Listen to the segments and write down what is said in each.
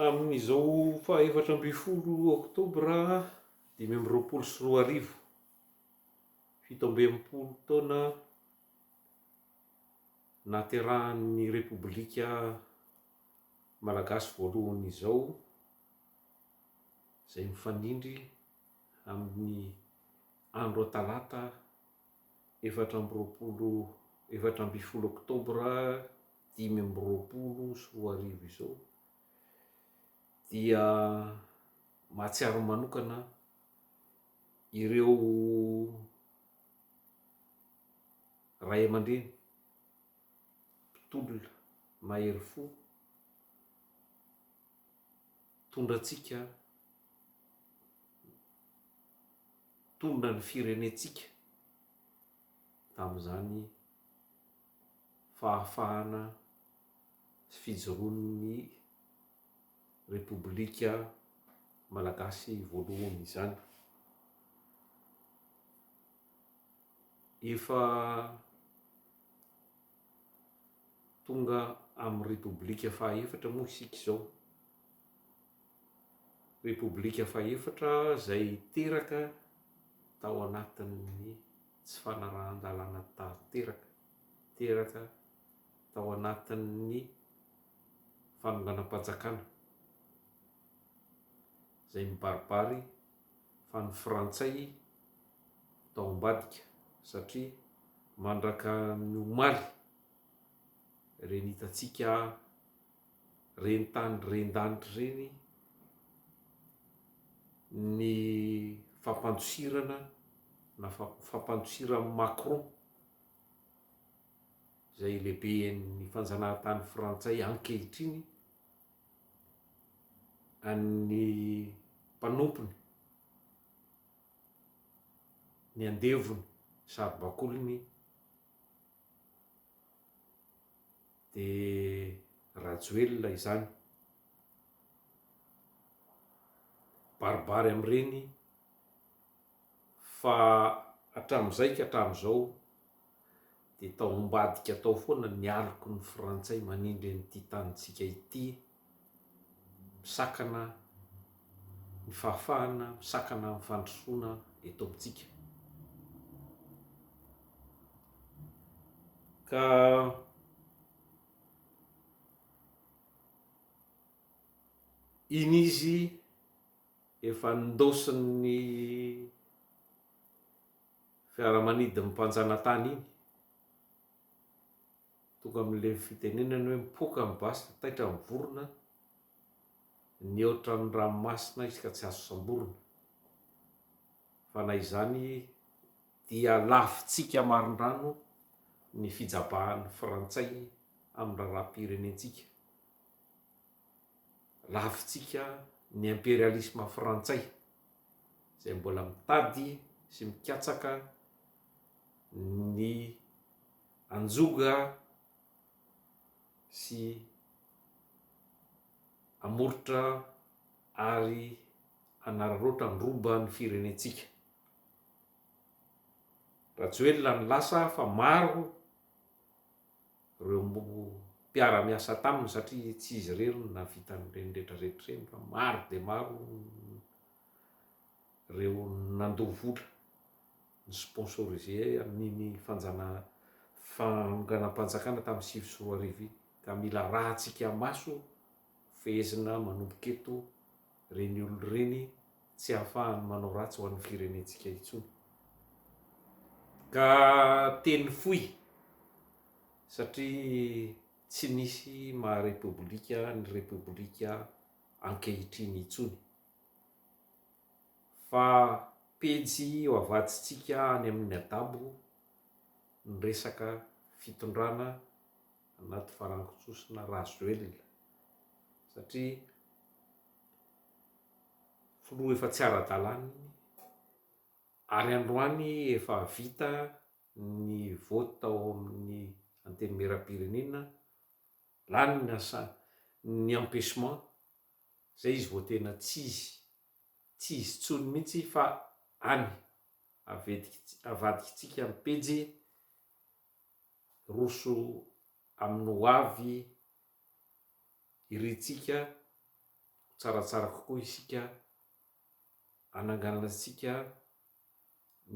Amin'izao faha efatra ambin'ny folo oktobra dimy amby roapolo sy roa arivo, fito amby enimpolo taona nahaterahan'ny Repoblika Malagasy voalohany izao, izay mifanindry amin'ny andro Talata efatra amby roapolo efatra ambin'ny folo oktobra dimy amby roapolo sy roa arivo izao dia mahatsiaro manokana ireo ray aman-dreny mpitolona mahery fo tondratsika Nitondra ny firenentsika tamin'izany fahafahana sy fijoroan'ny Repoblika Malagasy voalohany izany. Efa tonga amin'ny Repoblika fahaefatra moa isika izao. Repoblika fahefatra izay teraka tao anatin'ny tsy fanarahan-dalàna tanteraka, teraka tao anatin'ny fanonganam-panjakana izay mibaribary fa ny Frantsay tao ambadika satria mandraka ny omaly ireny hitantsika reni-tany ren-danitra ireny ny fampandosirana na fampandosiran'i Macron izay lehiben'ny fanjanahantany frantsay ankehitriny an'ny mpanompony ny andevony saribakoliny Dia Rajoelina izany. Baribary amin'ireny fa hatramin'izay ka hatramin'izao dia tao ambadika tao foana ny aloky ny frantsay manindry an'ity tanintsika ity. misakana ny fahafahana, misakana ny fandrosoana eto amintsika. Ka iny izy efa nindaosin'ny fiaramanidin'ny mpanjanatany iny, Tonga amin'ilay fitenenany hoe mipoaka ny basy dia taitra ny vorona, nihoatra ny ranomasina izy ka tsy azo samborina. Fa na izany dia lavintsika marindrano ny fijabahan'ny frantsay amin'ny raharaham-pirenentsika. Lavintsika ny imperialisma frantsay izay mbola mitady sy mikatsaka ny Anjoga sy Amorotra ary Anararaotra ny roba ny firenentsika. Rajoelina no lasa fa maro reo mpiara-miasa taminy satria tsy izy irery no nahavita an'ireny rehetra rehetra ireny fa maro dia maro reo nandoa vola. ny sponsoriser ahy amin'iny fanjana fanonganam-panjakana tamin'ny sivy sy roa arivo iny ka mila arahantsika maso fehezina manomboka eto ireny olona ireny tsy ahafahany manao ratsy ho an'ny firenentsika intsony ka teny fohy satria tsy nisy maha repoblika ny repoblika ankehitriny intsony. Fa pejy ho avadintsika any amin'ny adabo ny resaka fitondrana anaty farangon-tsosona Rajoelina satria filoha efa tsy ara-dalàna iny ary androany efa vita ny vote tao amin'ny Antenimierampirenena, lany ny asa, ny empechement Izay izy vao tena tsy izy. Tsy izy tsony mihitsy fa any. Avadikintsika ny pejy, roso amin'ny ho avy irintsika ho tsaratsara kokoa isika hananganantsika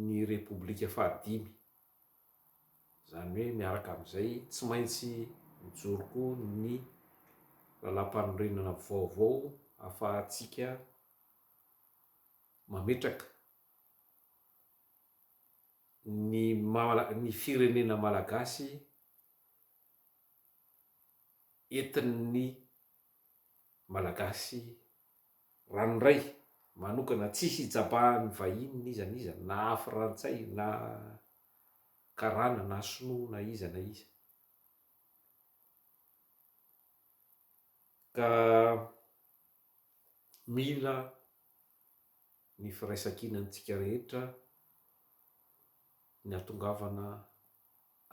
ny Repoblika fahadimy. Izany hoe miaraka amin'izay tsy maintsy mijoro koa ny Lalàmpanorenana vaovao ahafahantsika mametraka ny maha ny firenena malagasy entin'ny Malagasy ranoray manokana tsy hijabahan'ny vahiny n'iza n'iza na frantsay na karana na sinoa na iza na iza ka mila ny firaisankinantsika rehetra ny hatongavana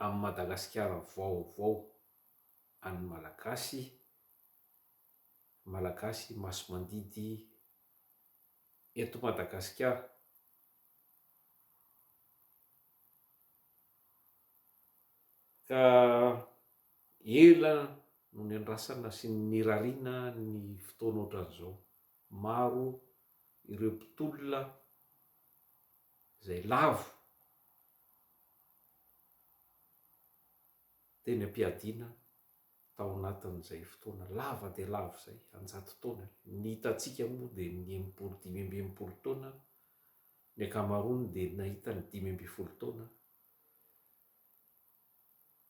amin'ny Madagasikara vaovao an'ny Malagasy Malagasy masimandidy eto Madagasikara. Ka ela no niandrasana sy nirariana ny fotoana ohatran'izao. Maro ireo mpitolona izay lavo teny am-piadiana. Tao anatin'izay fotoana lava dia lava izay, an-jato taona, ny hitantsika moa dia ny enimpolo, dimy amby enimpolo taona, ny ankamaroany dia nahita ny dimy ambin'ny folo taona,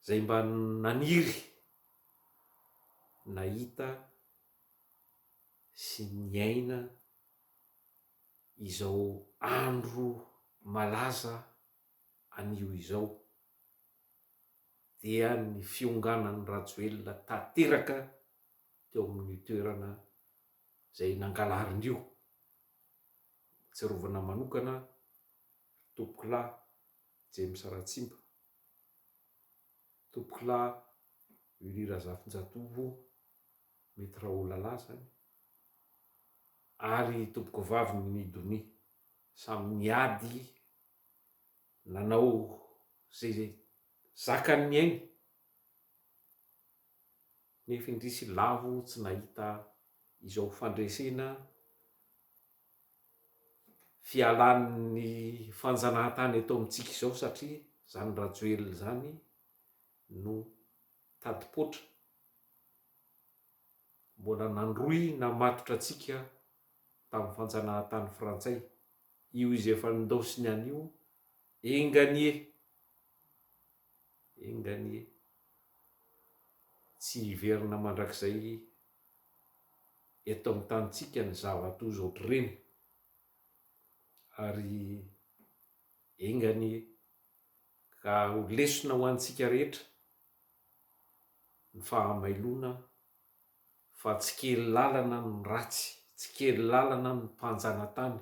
izay mba naniry nahita sy niaina izao andro malaza anio izao, dia ny fionganan'i Rajoelina tanteraka teo amin'io toerana izay nangalariny io. Ahatsiarovana manokana ry tompokolahy James Ratsimba, tompokolahy Willy Razafinjatovo, mety Raholala izany, ary i tompokovaviny Nidonie, samy niady. Nanao izay izay zakany ny ainy, nefa indrisy lavo tsy nahita izao fandresena fialan'ny fanjanahantany eto amintsika izao satria izany Rajoelina izany no tadipoitra. Mbola nandrohy namatotra antsika tamin'ny fanjanahantany frantsay io izy efa nindaosiny any io, enga anie, enga anie, tsy hiverina mandrakizay eto amin'ny tanintsika ny zava-toa izao ohatr'ireny, ary enga anie, Ka ho lesona ho antsika rehetra ny fahamailoana fa tsy kely lalana ny ratsy, tsy kely lalana ny mpanjanatany.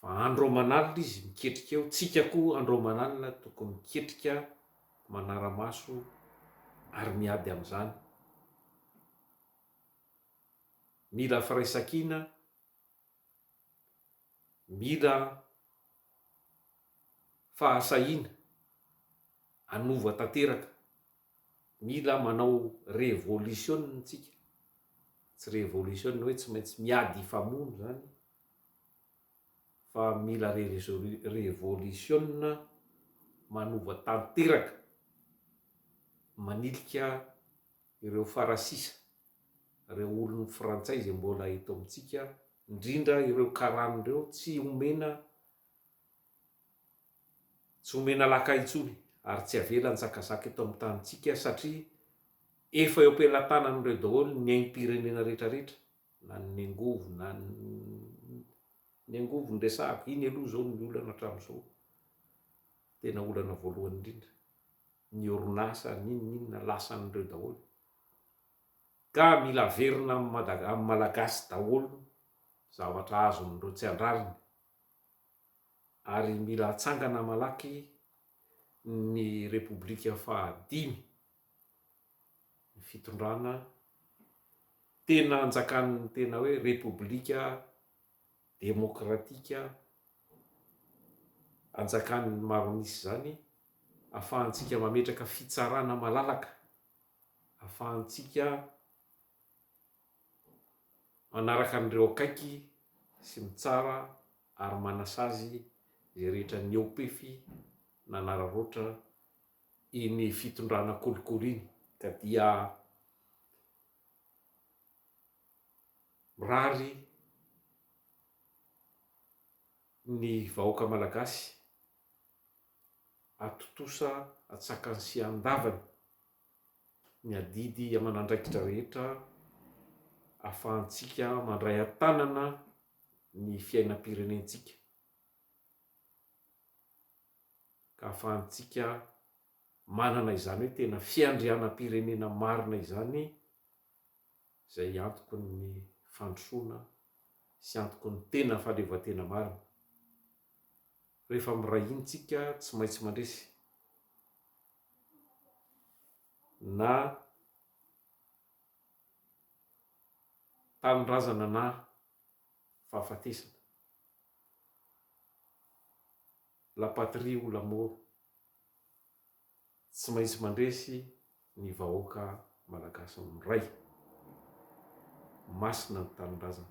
Fa andro aman'alina izy miketrika eo, tsika koa andro aman'alina tokony miketrika manara-maso ary miady amin'izany. Mila firaisankina. Mila fahasahiana hanova tanteraka, mila manao revolisiona tsika, tsy revolisiona hoe tsy maintsy miady hifamono zany fa mila revolisiona manova tanteraka manilika ireo farasisa, ireo olon'ny frantsay izay mbola eto amintsika, indrindra ireo karany ireo tsy omena tsy omena laka intsony ary tsy avela nizakazaka eto amin'ny tanintsika satria efa eo am-pelatanany ireo daholo ny aim-pirenena rehetrarehetra na ny angovo na ny angovo ny resahako, iny aloha izao ny olana hatramin'izao, tena olana voalohany indrindra. ny orinasa ninoninona lasan'ireo daholo ka mila averina am Madag am Malagasy daholo zavatra azon'ireo tsy andrariny ary mila atsangana malaky ny repoblika faha dimy ny fitondrana tena anjakan'ny tena hoe repoblika demokratika anjakan'ny maroanisa izany, ahafahantsika mametraka fitsarana malalaka, ahafahantsika manaraka an'ireo akaiky sy mitsara ary manasazy izay rehetra niaopefy nanararaotra iny fitondrana kolikoly iny ka dia mirary ny vahoaka malagasy atontosa an-tsakany sy an-davany ny adidy aman'andraikitra rehetra ahafahantsika mandray an-tanana ny fiainam-pirenentsika ka ahafahantsika manana izany hoe tena fiandrianam-pirenena marina izany izay antoky ny fandrosoana sy antoky ny tena fahaleovantena marina. Rehefa miray hina isika tsy maintsy mandresy na tanindrazana na fahafatesana. La patrie ou la mort. Tsy maintsy mandresy ny vahoaka malagasy ny Ray. Masina ny Tanindrazana.